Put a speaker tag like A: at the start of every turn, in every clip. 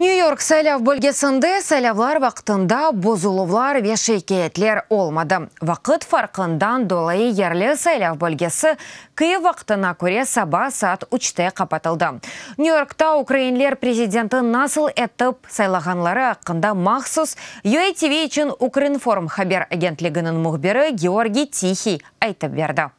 A: Nyu-York saylav bölgesinde saylavlar vaqtında bozuluvlar ve şikâyetler olmadı. Vaqıt farqından dolayı yerli saylav bölgesi Kyiv vaqtına köre saba saat üçte qapatıldı. Nyu-Yorkta ukrainler prezidenti nasıl etip saylağanları aqqında mahsus UATV içün Ukrinform haber agentliginiñ mühbiri Georgiy Tihiy aytıp berdi.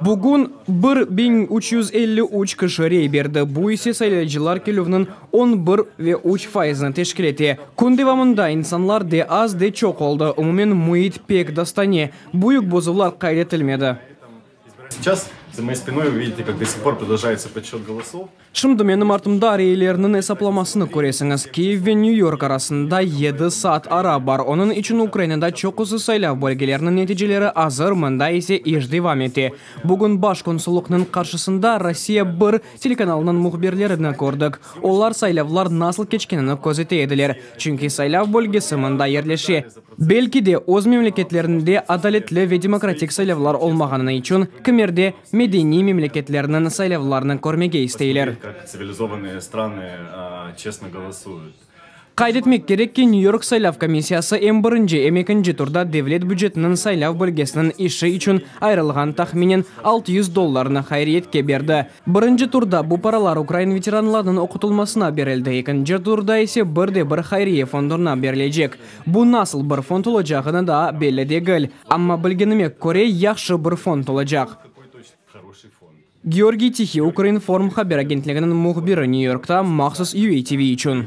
B: Bugün bir biñ üç yüz elli üç kişi rey berdi, bu ise saylayıcılar kelüvniñ on bir ve üç faizni teşkil ete. Kün devamında insanlar de az, de çoq oldı, umumen müit pek dostane, büyük bozuvlar qayd etilmedi.
C: Şimdi menim artımda
B: reyelerniñ esaplamasını köresiñiz. Kyiv ve New York arasında yedi saat ara bar. Onıñ içün Ukrainada çoqusı saylav bölgeleriniñ neticeleri azır, mında ise iş devam ete. Bugün baş konsullıqnıñ qarşısında Rossiya bir telekanalınıñ mühbirlerini kördik. Olar saylavlar nasıl keçkenini közete ediler, çünki saylav bölgesi mında yerleşe. Belki de, öz memleketlerinde adaletli ve demokratik saylavlar olmağanı içün kimerde Medeniy memleketlerniñ saylavlarını körmege isteyler.
C: Qayd etmek
B: kerek ki, Nyu-York saylav komissiyası em birinci, em ekinci turda devlet bücetiniñ saylav bölgesiniñ işi içün ayırılğan tahminen altı yüz dollarnı hayriyetke berdi. Birinci turda bu paralar ukrain veteranlarnıñ oqutılmasına berildi, ekinci turda ise bir de bir hayriye fonduna berilecek. Bu nasıl bir fond olacağını daa belli degil. Amma bilgenime köre, yahşı bir fond olacaq. Georgiy Tihiy, Ukrinform haber agentliginiñ mühbiri New Yorkta mahsus UATV içün.